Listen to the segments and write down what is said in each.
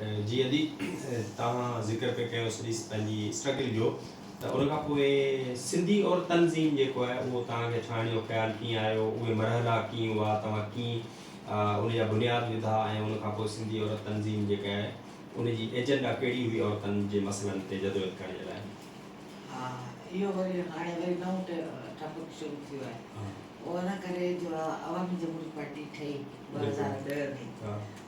جي ادي توهان ذڪر پئي ڪيو سڄي پنهنجي اسٽرگل جو ته ان کان پوء سنڌي اور تنظيم جيڪو آهي اهو توهان کي ٺاهڻ جو خيال ڪيئن آيو اهي مرحلا ڪيئن هئا توهان ڪيئن ان جا بنياد وڌا ۽ ان کان پوء سنڌي عورت تنظيم جيڪا آهي ان جي ايجنڊا ڪهڙي هئي عورتن جي مسئلن تي جدوجهد ڪرڻ جي لاء ها اهو وري هاڻي وري نئون ٽاپڪ شروع ٿيو آهي اهو ان ڪري جو عوامي جمهوري پارٽي ٺهي ٻه هزار ڏهه ۾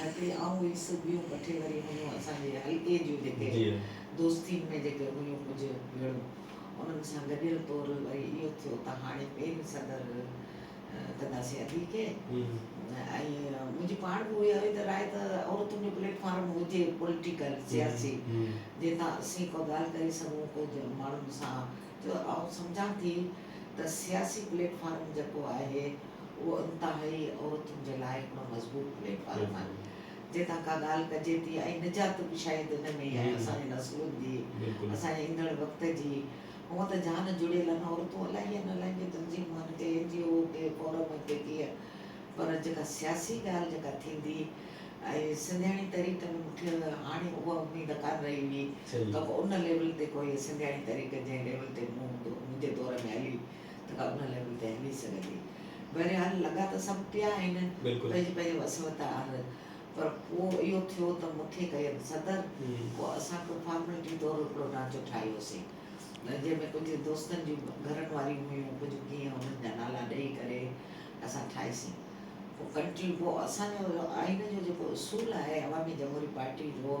هتي آئون هيس سو ٻيون ڪٺي وري هيون اسان جي حلقي جون جيڪي دوستين ۾ جيڪي هيون ڪجهه ويڙهون انهن سان گڏيل طور وري اهو ٿيو ته هاڻي پين صدر ڪنداسين ادي کي ۽ منهنجي پاڻ به اهي هئي ته راء ته عورتن جو پليٽ فارم هجي پوليٽيڪل سياسي جنهن تان اسين ڪو ڳالهه ڪري سگهون ڪو ماڻهن سان جو آئون سمجهان ٿي ته سياسي پليٽ فارم جيڪو آهي اهو انتهائي عورتن جي لاء هڪڙو مضبوط پليٽ فارم آهي جنهن تان ڪا ڳالهه ڪجي ٿي ۽ نجات به شايد ان ۾ ئي آهي اسان جي نسلن جي اسان جي ايندڙ وقت جي هونء ته جان جڙيل آهن عورتون الائي ان الائي ڪي تنظيمون آهن ڪي اين جي او ڪي فورم ڪي ڪيئي پر جيڪا سياسي ڳالهه جيڪا ٿيندي ۽ سنڌياڻي تحريڪ ۾ مون کي هاڻي اها اميد ڪانه رهي هئي ته ان ليول تي ڪوئي سنڌياڻي تحريڪ جنهن ليول تي مون هوندو منهنجي دور ۾ هلي ته ڪا ان لاء به بهري سگهندي. بهرحال لڳا ته سڀ پيا آهن، پنهنجي پنهنجي وس وت آهر، پر پوء اهو ٿيو ته مون کي ڪيم صدر، پوء اسان ڪو فارملٽي طور هڪڙو ڍانچو ٺاهيوسين، جنهن ۾ ڪجهه دوستن جون گهرن واريون هيون، ڪجهه ڪيئن انهن جا نالا ڏئي ڪري اسان ٺاهيسين ڪو ڪنٽري، پوء اسان جو آئين جو جيڪو اصول آهي عوامي جمهوري پارٽي جو،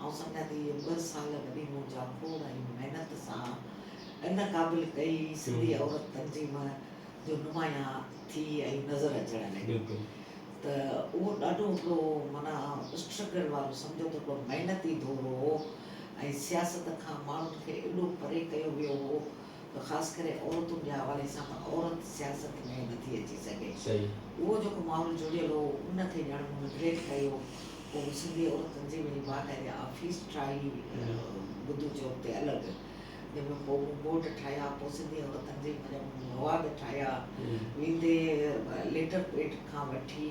آئون سمجهان ٿي اهي ٻه سال وڏي مون جا کوڙ ۽ محنت سان ان قابل ڪئي سنڌي عورت تنظيم جو نمايان ٿي ۽ نظر اچڻ لڳي ته اهو ڏاڍو هڪڙو معنيٰ اسٽرگل وارو سمجهو ته هڪڙو محنتي دور هو ۽ سياست کان ماڻهن کي ايڏو پري ڪيو ويو هو ته خاص ڪري عورتن جي حوالي سان ته عورت سياست ۾ نٿي اچي سگهي. اهو جيڪو ماحول جڙيل هو ان کي ڄڻ مون نگليڪٽ ڪيو هو. سنڌي عورت تنظيم جي باقاعدي آفيس ٺاهي بدو چوڪ تي الڳ جنهن ۾ پوء مون بورڊ ٺاهيا پوء سنڌي عورت تنظيم جا مون مواد ٺاهيا ويندي ليٽر پيڊ کان وٺي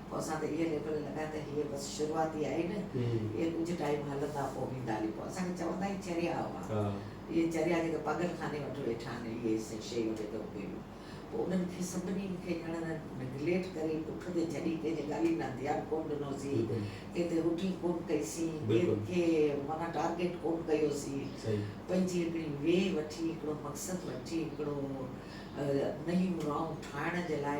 پوء اسان ته اهي ليبل لڳا ته هي بس شروعات ئي آهي نه اهي ڪجهه ٽائيم هلندا پوء ويندا هلي پوء اسان کي چوندا هي چريا هئا اهي چريا جيڪي پاڳل خاني وٽ ويٺا آهن اهي شيء وٺي ته اهي ڪيون پوء انهن کي سڀني کي ڄڻ نگليٽ ڪري پٺ تي جهلي ڪنهن جي ڳالهين ڏانهن ڌيان ڪونه ڏنو سين ڪنهن تي روٽي ڪونه ڪئي سين ڪنهن کي معنيٰ ٽارگيٽ ڪونه ڪيو سين پنهنجي هڪڙي وي وٺي هڪڙو مقصد وٺي هڪڙو نيم رانگ ٺاهڻ جي لاء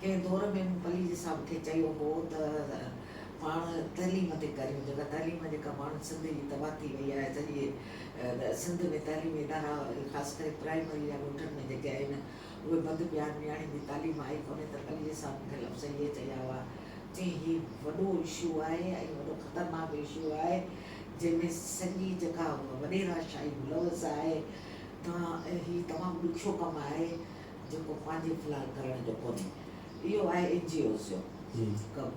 ڪنهن دور ۾ مون پليجي صاحب کي چيو هو ته پاڻ تعليم تي ڪريون جيڪا تعليم جيڪا پاڻ سنڌ جي تباهه ٿي وئي آهي سڄي سنڌ ۾ تعليمي ادارا خاص ڪري پرائمري يا ڳوٺن ۾ جيڪي آهن اهي بند پيا آهن نياڻين جي تعليم آئي ڪونهي ته پليجي صاحب مون کي لفظ اهي چيا هئا چيائين هي وڏو اشو آهي ۽ وڏو خطرناڪ اشو آهي جنهن ۾ سڄي جيڪا وڏيراشاهي ملوث آهي تنهن هي تمام ڏکيو ڪم آهي جيڪو پنهنجي في الحال ڪرڻ جو ڪونهي اهو آهي اين جي اوز جو ڪم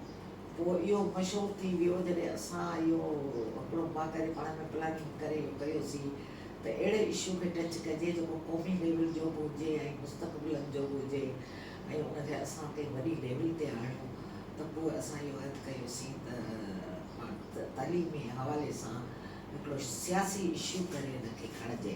پوء اهو مشهور ٿي ويو جڏهن اسان اهو هڪڙو باقاعدي پاڻ ۾ پلاننگ ڪري اهو ڪيوسين ته اهڙي اشو کي ٽچ ڪجي جيڪو قومي ليول جو به هجي ۽ مستقبلن جو به هجي ۽ ان کي اسان ڪنهن وڏي ليول تي آڻيون ته پوء اسان اهو عهد ڪيوسين ته پاڻ تعليمي حوالي سان هڪڙو سياسي اشو ڪري ان کي کڻجي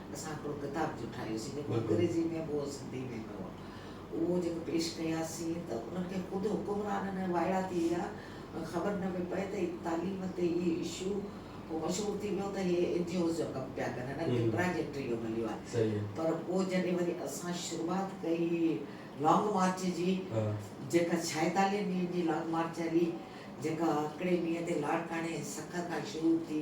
اسان هڪڙو ڪتاب جو ٺاهيوسين جيڪو انگريزي ۾ به هو سنڌي ۾ به هو اهو جيڪو پيش ڪياسين ته انهن کي خود حڪمرانن ۽ وائڙا ٿي ويا ۽ خبر نه پئي پئي ته تعليم تي هي اشو ڪو مشهور ٿي ويو ته هي اين جي اوز جو ڪم پيا ڪن هنن کي پراجيڪٽ اهو مليو آهي پر پوء جڏهن وري اسان شروعات ڪئي لانگ مارچ جي جيڪا ڇائيتاليهن ڏينهن جي لانگ مارچ هلي جيڪا هڪڙي ڏينهن تي لاڙڪاڻي سک کان شروع ٿي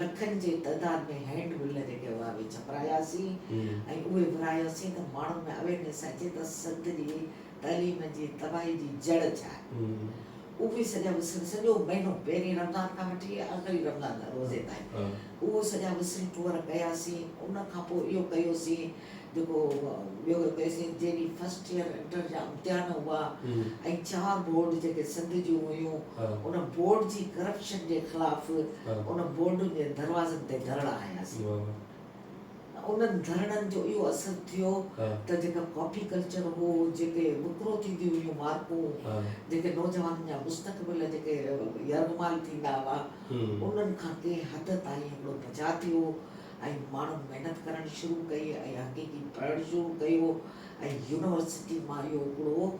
لکن جي تعداد ۾ هينڊ مل جيڪي هئا اهي ڇپراياسين ۽ اهي ورهاياسين ته ماڻهن ۾ اويرنيس اچي ته سنڌ جي تعليم جي تباهي جي جڙ ڇا آهي. اهي سڄا وسري سڄو مهينو پهرين رمضان کان وٺي آخري رمضان روزي تائين اهي سڄا وسري ٽوئر ڪياسين ان کان پوء اهو ڪيوسين جيڪو ٻيو هڪ S N G D first year inter جا امتحان هئا ۽ چار بورڊ جيڪي سنڌ جون هيون ان بورڊ جي ڪرپشن جي خلاف ان بورڊن جي دروازن تي ڌرڻا هنياسين انهن ڌرڻن جو اهو اثر ٿيو ته جيڪا ڪاپي ڪلچر هو جيڪي وڪرو ٿينديون هيون مارڪون جيڪي نوجوانن جا مستقبل جيڪي يرغمال ٿيندا هئا انهن کان ڪنهن حد تائين هڪڙو بچاء ٿيو ۽ ماڻهن محنت ڪرڻ شروع ڪئي ۽ حقيقي پڙهڻ شروع ڪيو ۽ يونيورسٽي مان اهو هڪڙو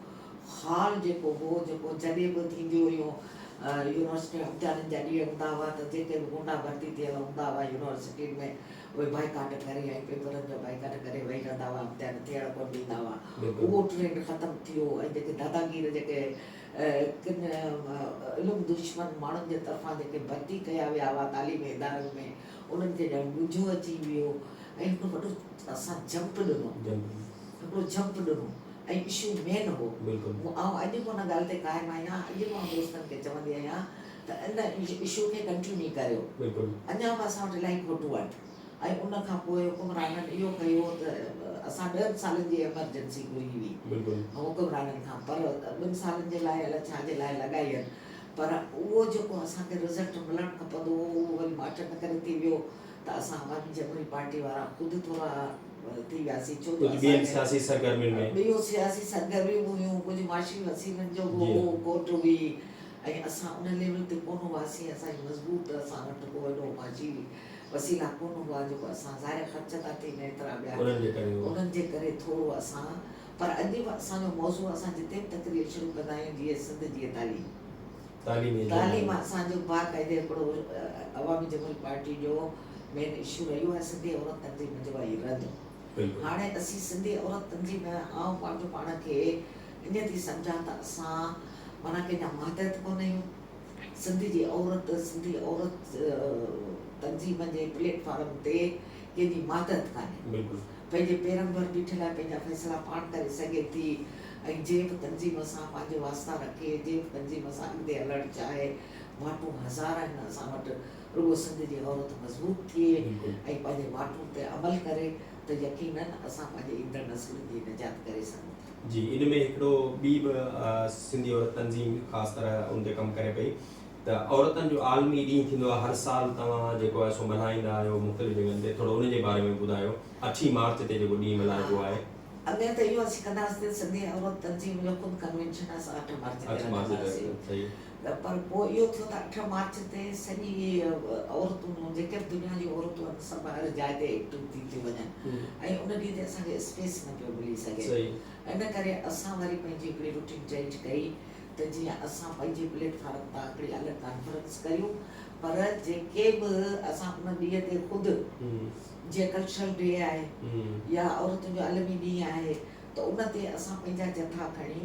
خال جيڪو هو جيڪو جڏهن به ٿينديون هيون يونيورسٽي ۾ امتحانن جا ڏينهن هوندا هئا ته جيڪي به گونڊا ڀرتي ٿيل هوندا هئا يونيورسٽين ۾ اهي بائيڪاٽ ڪري ۽ پيپرن جو بائيڪاٽ ڪري ويهي رهندا هئا امتحان ٿيڻ ڪونه ڏيندا هئا اهو ٽرينڊ ختم ٿي ويو ۽ جيڪي داداگير جيڪي ڪن علم دشمن ماڻهن جي طرفان جيڪي ڀرتي ڪيا ويا هئا تعليمي ادارن ۾ انهن کي ڄڻ ڳجهو اچي ويو ۽ هڪڙو وڏو سان جمپ ڏنو. هڪڙو جمپ ڏنو ۽ اشو مين هو. آئون اڄ به ان ڳالهه تي قائم آهيان. اڄ به آئون دوستن کي چوندي آهيان ته ان اشو کي ڪنٽيوني ڪريو. اڃا به اسان وٽ الائي فوٽو آهن ۽ ان کان پوء حڪمرانن اهو ڪيو ته اسان ڏهن سالن جي ايمرجنسي گهري هئي حڪمرانن کان پر ٻن سالن جي لاء الائي ڇا جي لاء لڳائين پر اهو جيڪو اسان کي رزلٽ ملڻ کپندو هو اهو وري ماٺ نه ڪري ٿي ويو ته اسان عوامي جمهوري پارٽي وارا خود ٿورا ٿي وياسين ڇو جو اسان کي ٻيون سياسي سرگرميون به هيون ڪجهه معاشي وسيلن جو به هو کوٽ هئي ۽ اسان ان ليول تي ڪونه هئاسين اسان جي مضبوط اسان وٽ ڪو اهڙو معاشي وسيلا ڪونه هئا جيڪو اسان ظاهر خرچ ٿا ٿين ايترا ٻيا انهن جي ڪري ٿورو اسان پر اڄ به اسان جو موضوع اسان جتي به تقرير شروع ڪندا آهيون جيئي سنڌ جيئي تعليم تعليم اسان جو باقاعدي هڪڙو عوامي جمهوري پارٽي جو مين اشو رهيو آهي سنڌي عورت تنظيم جو آهي رد هاڻي اسين سنڌي عورت تنظيم آئون پنهنجو پاڻ کي اڃ ٿي سمجهان ته اسان معنيٰ ڪنهن جا ماتحت ڪونه آهيون سنڌ جي عورت سنڌي عورت تنظيم جي پليٽ فارم تي ڪنهن جي ماتحت ڪانهي پنهنجي پيرن ڀر بيٺي لاء پنهنجا فيصلا پاڻ ڪري سگهي ٿي ۽ جنهن به تنظيم سان پنهنجو واسطا رکي، جنهن به تنظيم سان اڳتي هلڻ چاهي، واٽون هزار آهن اسان وٽ، رڳو سنڌ جي عورت مضبوط ٿئي ۽ پنهنجي واٽون تي عمل ڪري ته يقيناً اسان پنهنجي ايندڙ نسلن جي نجات ڪري سگهون ٿا. جي ان ۾ هڪڙو ٻي به سنڌي عورت تنظيم خاص طرح ان تي ڪم ڪري پئي ته عورتن جو عالمي ڏينهن ٿيندو آهي هر سال توهان جيڪو آهي سو ملهائيندا آهيو مختلف جڳهن تي ٿورو ان جي باري ۾ بڌايو اٺين مارچ تي جيڪو ڏينهن ملهائبو آهي. اڳي ته اهو اسين ڪنداسين ته سنڌي عورت تنظيم جو خود ڪنوينشن اسان اٺ مارچ تي رکنداسين ته پر پوء اهو ٿيو ته اٺ مارچ تي سڄي عورتون جيڪي به دنيا جون عورتون آهن سڀ هر جاء تي ايڪٽو ٿي ٿيون وڃن ۽ ان ڏينهن تي اسان کي اسپيس نه پيو ملي سگهي ان ڪري اسان وري پنهنجي هڪڙي روٽين چينج ڪئي ته جيئن اسان پنهنجي پليٽ فارم تان هڪڙي الڳ ڪانفرنس ڪريون پر جيڪي به اسان ان ڏينهن تي خود جيئن ڪلچرل ڊي آهي يا عورتن جو عالمي ڏينهن آهي ته ان تي اسان پنهنجا جٿا کڻي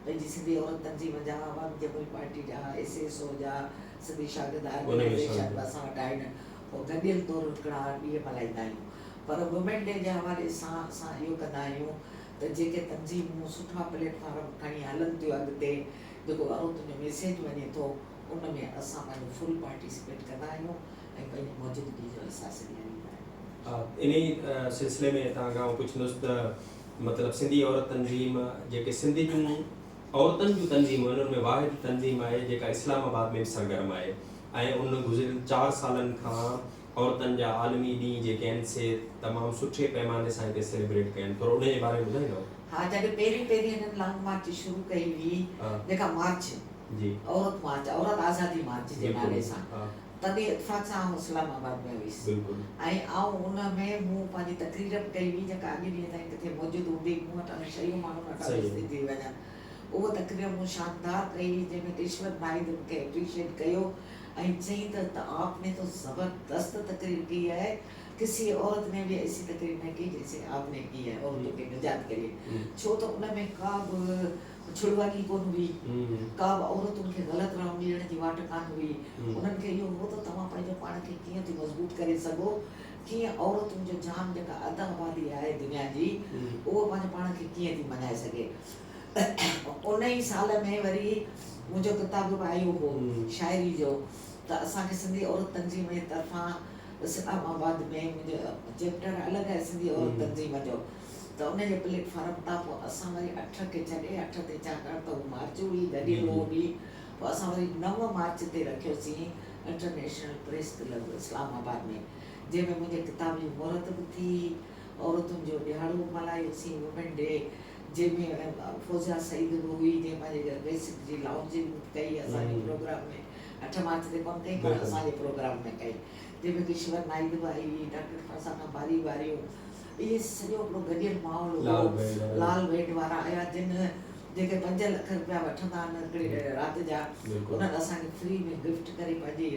پنهنجي سنڌي عورت تنظيم جا عوامي جمهوري پارٽي جا ايس ايس او جا سنڌي شاگرد آرگنائيزيشن به اسان وٽ آهن پوء گڏيل طور هڪڙا ڏينهن ملهائيندا آهيون پر وومين ڊي جي حوالي سان اسان اهو ڪندا آهيون ته جيڪي تنظيمون سٺا پليٽ فارم کڻي هلن ٿيون اڳتي جيڪو اهو تنهنجو ميسيج وڃي ٿو ان ۾ اسان پنهنجو فل پارٽيسپيٽ ڪندا آهيون ۽ پنهنجي موجودگي جو احساس ڏياريندا آهيون. انهي سلسلي ۾ توهان کان آئون پڇندس ته مطلب سنڌي عورت تنظيم جيڪي سنڌ جون عورتن جون تنظيمون آهن ان ۾ واحد تنظيم آهي جيڪا اسلام آباد ۾ به سرگرم آهي ۽ ان گذريل چار سالن کان عورتن جا عالمي ڏينهن جيڪي آهن سي تمام سٺي پيماني سان هتي سيليبريٽ ڪيا آهن ٿورو ان جي باري ۾ ٻڌائيندؤ. ها جڏهن پهرين پهرين هنن لانگ مارچ شروع ڪئي هئي جيڪا مارچ عورت مارچ عورت آزادي مارچ جي نالي سان تڏهن اتفاق سان آئون اسلام آباد ۾ هئيس ۽ آئون ان ۾ مون پنهنجي تقرير به ڪئي هئي جيڪا اڄ ڏينهن تائين ڪٿي موجود هوندي مون وٽ اهي شيون ماڻهن وٽ اڄ سڌي ٿي وڃن اهو تقرير مون شاندار ڪئي هئي جنهن ۾ رشوت ناهيد مون کي اپريشيٽ ڪيو ۽ چئين ته ته آپ ني تو زبردست تقرير ڪئي آهي، ڪسي عورت ني به ايسي تقرير نه ڪئي جيسي آپ ني ڪئي آهي عورتو کي نجات ڪي لئي ڇو ته ان ۾ ڪا به ڇڙواڳي ڪونه هئي، ڪا به عورتن کي غلط راهه ڏيڻ جي واٽ ڪانه هئي، انهن کي اهو هو ته توهان پنهنجو پاڻ کي ڪيئن ٿيون مضبوط ڪري سگهو، ڪيئن عورتن جو جان جيڪا اڌ آبادي آهي دنيا جي اهو پنهنجو پاڻ کي ڪيئن ٿي مڃائي سگهي. ۽ ان ئي سال ۾ وري منهنجو ڪتاب به آيو هو شاعري جو ته اسان کي سنڌي عورت تنظيم جي طرفان اسلام آباد ۾ منهنجو چيپٽر الڳ آهي سنڌي عورت تنظيم جو ته ان جي پليٽ فارم تان پوء اسان وري اٺ کي ڇڏي اٺ تي ڇاڪاڻ ته هو مارچ هئي گڏيل اهو به پوء اسان وري نو مارچ تي رکيوسين international press club Islamabad ۾ جنهن ۾ منهنجي ڪتاب جي مهرت به ٿي عورتن جو ڏهاڙو به ملهايوسين وومين ڊي جنهن ۾ فوزيا سعيد به هئي جنهن پنهنجي گهر بيسڪ جي لائونجنگ ڪئي اسان جي پروگرام ۾ اٺ مارچ تي ڪونه ڪئي پر اسان جي پروگرام ۾ ڪئي جنهن ۾ ڪشور نائيڊ به آئي هئي ڊاڪٽر فرزانه باري به آيون اهي سڄو هڪڙو گڏيل ماحول هو لال بينڊ وارا آيا جن جيڪي پنج لک رپيا وٺندا آهن هڪڙي رات جا انهن اسان کي فري ۾ گفٽ ڪري پنهنجي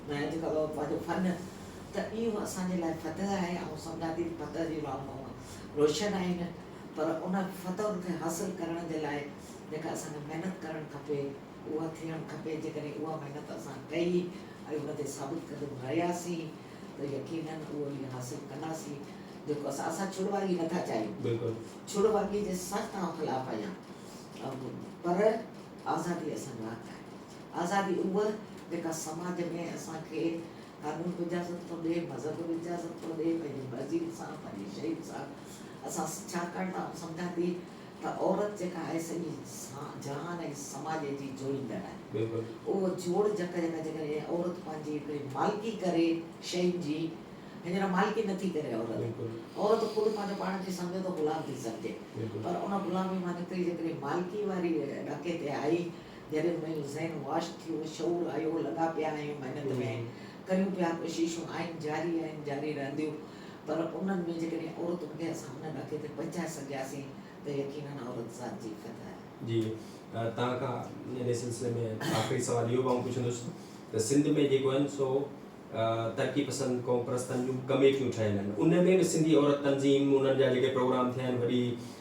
ڏني جيڪو پنهنجو فن ته اهو اسان جي لاء فتح آهي آئون سمجهان ٿي ته فتح جي علامت هئا روشن آهن پر ان فتح کي حاصل ڪرڻ جي لاء جيڪا اسان کي محنت ڪرڻ کپي اها ٿيڻ کپي جيڪڏهن اها محنت اسان ڪئي ۽ ان تي ثابت قدم رهياسين ته يقيناً اهو ئي حاصل ڪنداسين جيڪو اسان اسان ڇڙواڳي نٿا چاهيون بلڪل ڇڙواڳي جي سخت آئون خلاف آهيان پر آزادي اسان جو حق آهي آزادي اها جيڪا سماج ۾ اسان کي قانون به اجازت ٿو ڏئي، مذهب به اجازت ٿو ڏئي، پنهنجي مرضي سان، پنهنجي شيء سان اسان ڇاڪاڻ ته آئون سمجهان ٿي ته عورت جيڪا آهي سڄي جهان ۽ سماج جي جوڙيندڙ آهي. اهو جوڙ جڪ جيڪا جيڪڏهن عورت پنهنجي هڪڙي مالڪي ڪري شين جي، هينئر مالڪي نه ٿي ڪري عورت، عورت خود پنهنجو پاڻ کي سمجهي ته غلام ٿي سمجهي پر ان غلامي مان نڪري جيڪڏهن مالڪي واري ڏاڪي تي آئي جڏهن منهنجو ذهن واش ٿيو، شعور آيو، لڳا پيا آهيون محنت ۾، ڪريون پيا ڪوششون، آهن جاري آهن، جاري رهنديون، پر انهن ۾ جيڪڏهن عورت هوندي ها اسان ان ڏاڪي تي پهچائي سگهياسين ته يقينن عورت ذات جي فتح. جي توهان کان انهي سلسلي ۾ آخري سوال اهو به آئون پڇندس ته سنڌ ۾ جيڪو آهن سو ترقي پسند قوم پرستن جون ڪميٽيون ٺهيل آهن انهن ۾ به سنڌي عورت تنظيم انهن جا جيڪي پروگرام ٿيا آهن وڏي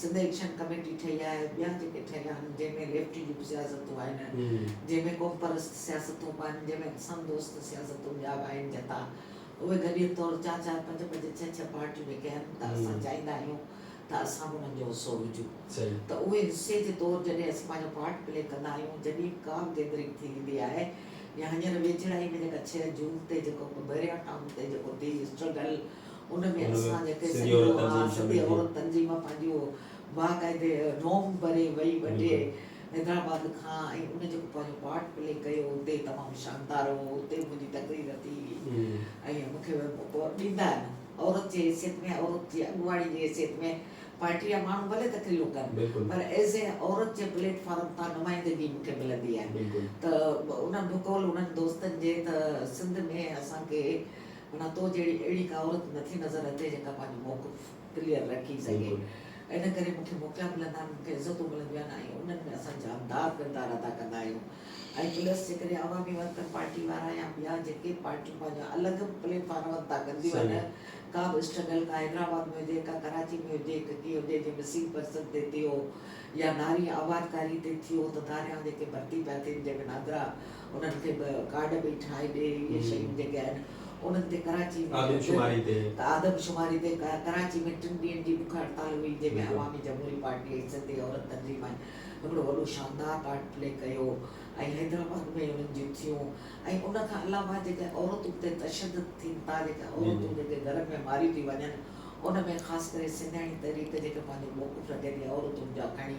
سنڌ ايڪشن ڪميٽي ٺهي آهي ۽ ٻيا جيڪي ٺهيل آهن جنهن ۾ ليفٽ جون به سياستون آهن جنهن ۾ قومپرست سياستون به آهن جنهن ۾ انسان دوست سياستون ٻيا به آهن جتا اهي گڏيل طور چار چار پنج پنج ڇهه ڇهه پارٽيون جيڪي آهن ته اسان چاهيندا آهيون ته اسان به انهن جو حصو هجون ته اهي حصي جي طور جڏهن اسين پنهنجو پارٽ پلي ڪندا آهيون جڏهين به ڪا به گيدرنگ ٿي ويندي آهي يا هينئر ويجهڙائي ۾ جيڪا ڇهه جون تي جيڪو پهريان ٽائون تي جيڪو ٽي اسٽرگل ان ۾ اسان جيڪي سڄي عورت سڄي عورت تنظيم پنهنجو باقاعدي روم ڀري وئي وڍي حيدرآباد کان ۽ ان جيڪو پنهنجو پارٽ پلي ڪيو اتي تمام شاندار هو اتي منهنجي تقرير ٿي هئي ۽ مون کي ڏيندا آهن عورت جي حيثيت ۾ عورت جي اڳواڻي جي حيثيت ۾ پارٽي جا ماڻهو ڀلي تقريرون ڪن پر ايز اي عورت جي پليٽ فارم تان نمائندگي مون کي ملندي آهي ته انهن بقول انهن دوستن جي ته سنڌ ۾ اسان کي معنيٰ تو جهڙي اهڙي ڪا عورت نٿي نظر اچي جيڪا پنهنجو موقف ڪليئر رکي سگهي. ان ڪري مون کي موقعا ملندا آهن، مون کي عزتون ملنديون آهن ۽ انهن ۾ اسان جاندار ڪردار ادا ڪندا آهيون ۽ پلس جيڪڏهن عوامي ورڪر پارٽي وارا يا ٻيا جيڪي پارٽيون پنهنجا الڳ پليٽ فارم ادا ڪنديون آهن ڪا به اسٽرگل ڪا حيدرآباد ۾ هجي ڪا ڪراچي ۾ هجي ڪا ڪيئن هجي جي مسيد پرسد تي ٿيو يا نارين آبادڪاري تي ٿيو ته ڌاريائون جيڪي ڀرتي پيا ٿين جنهن ۾ نادرا انهن کي به ڪارڊ به ٺاهي ڏي اهي شيون جيڪي آهن انهن تي ڪراچي ۾ آدمشماري تي ته آدمشماري تي ڪراچي ۾ ٽن ڏينهن جي بک هڙتال هئي جنهن ۾ عوامي جمهوري پارٽي ۽ سنڌي عورت تنظيم آهن هڪڙو وڏو شاندار پارٽ پلي ڪيو ۽ حيدرآباد ۾ انهن جون ٿيون ۽ ان کان علاوه جيڪي عورتون تي تشدد ٿين ٿا جيڪي عورتون جيڪي گهرن ۾ ماريون ٿي وڃن ان ۾ خاص ڪري سنڌياڻي تحريڪ جيڪي پنهنجو موقف رکي ٿي عورتن جا کڻي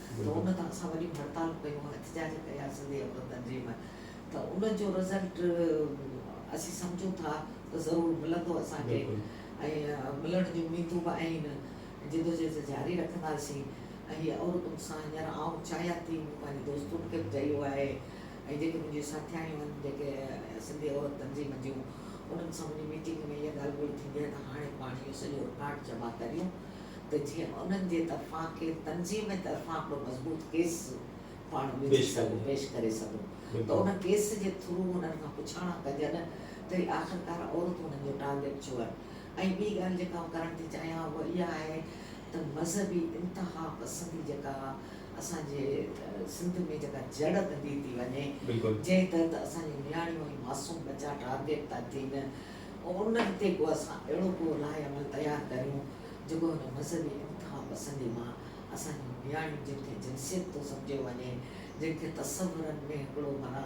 جو ان تان اسان وڏيون هڙتالون ڪيون احتجاج ڪيا سنڌي عورت تنظيم ته ان جو رزلٽ اسين سمجهون ٿا ته ضرور ملندو اسان کي ۽ ملڻ جون اميدون به آهن جدوجهد جاري رکنداسين ۽ هي عورتن سان هينئر آئون چاهيان ٿي مون پنهنجي دوستن کي به چيو آهي ۽ جيڪي منهنجيون ساٿياڻيون آهن جيڪي سنڌي عورت تنظيم جون انهن سان منهنجي ميٽنگ ۾ اها ڳالهه ٻولهه ٿيندي آهي ته هاڻي پاڻ اهو سڄو رڪارڊ جمع ڪريون ته جيئن انهن جي طرفان ڪنهن تنظيم طرفان ڪو مضبوط ڪيس پاڻ وجهي سگهون، پيش ڪري سگهون ته ان ڪيس جي ٿرو انهن کان پڇاڻا ڪجن ته هي آخرڪار عورتون انهن جو ٽارگيٽ ڇو آهن ۽ ٻي ڳالهه جيڪا آئون ڪرڻ ٿي چاهيان اها اها آهي ته مذهبي انتها پسندي جيڪا اسان جي سنڌ ۾ جيڪا جڙ ٻڌي ٿي وڃي جنهن تحت اسان جون نياڻيون ۽ معصوم ٻچا ٽارگيٽ ٿا ٿين ان هتي ڪو اسان اهڙو ڪو راء عمل تيار ڪريون جيڪو هن مذهبي انتها پسندي مان اسان جون نياڻيون جن کي جنسيت ٿو سمجهيو وڃي، جن کي تصورن ۾ هڪڙو مرا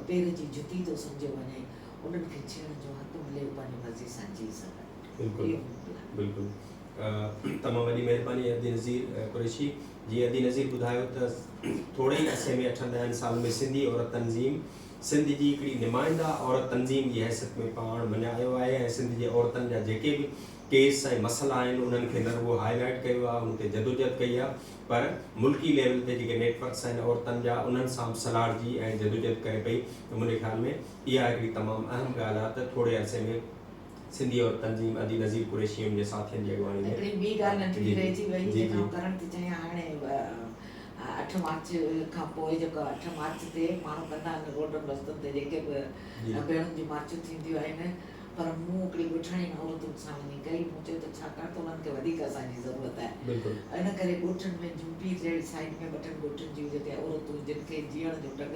پير جي جتي ٿو سمجهيو وڃي انهن کي ڇيڙڻ جو حق ملي هو پنهنجي مرضي سان جيئي سگهن. بلڪل اهو مون لاء. بلڪل تمام وڏي مهرباني ادي نظير قريشي جي ادي نظير ٻڌايو ته ٿوري ئي عرصي ۾ اٺن ڏهن سالن ۾ سنڌي عورت تنظيم سنڌ جي هڪڙي نمائنده عورت تنظيم جي حيثيت ۾ پاڻ مڃايو آهي ۽ سنڌ جي عورتن جا جيڪي به ڪيس ۽ مسئلا آهن انهن کي نه رڳو هاء لائيٽ ڪيو آهي ان تي جدوجهد ڪئي آهي پر ملڪي ليول تي جيڪي نيٽ ورڪس آهن عورتن جا انهن سان به سلهاڙجي ۽ جدوجهد ڪري پئي ته منهنجي خيال ۾ اها هڪڙي تمام اهم ڳالهه آهي ته ٿوري عرصي ۾ سنڌي عورت تنظيم ادي نظير قريشي ۽ منهنجي ساٿين جي اڳواڻي ۾ هڪڙي ٻي ڳالهه ننڍڙي رهجي وئي جي جي. ڪرڻ ته چاهيان هاڻي اٺ مارچ کان پوء جيڪو اٺ مارچ تي ماڻهو ڪندا آهن روڊن رستن تي جيڪي به جي. ڀيڻن جون مارچون ٿينديون آهن پر مون هڪڙي ڳوٺاڻي ۽ عورتن سان وڃي ڪئي مون چيو ته ڇاڪاڻ ته انهن کي وڌيڪ اسان جي ضرورت آهي بلڪل. ان ڪري ڳوٺن ۾ جوپي جهڙي سائيڊ ۾ ٻه ٽن ڳوٺن جون جيڪي عورتون جن کي جيئڻ جو ڍنگ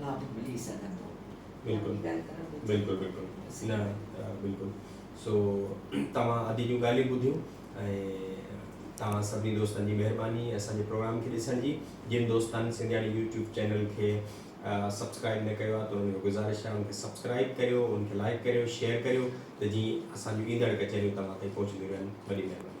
لا به ملي سگهندو بلڪل بلڪل بلڪل نه بلڪل سو توهان ادي جون ڳالهيون ٻڌيون ۽ توهان سڀني دوستن جي مهرباني اسان جي پروگرام کي ڏسڻ جي جن دوستن سنڌياڻي يوٽيوب چينل کي سبسڪرائب نه ڪيو آهي ته ان جو گزارش آهي ان کي سبسڪرائب ڪريو ان کي لائڪ ڪريو شيئر ڪريو ته جيئن اسان جون ايندڙ ڪچهريون توهان تائين پهچنديون رهن وڏي مهرباني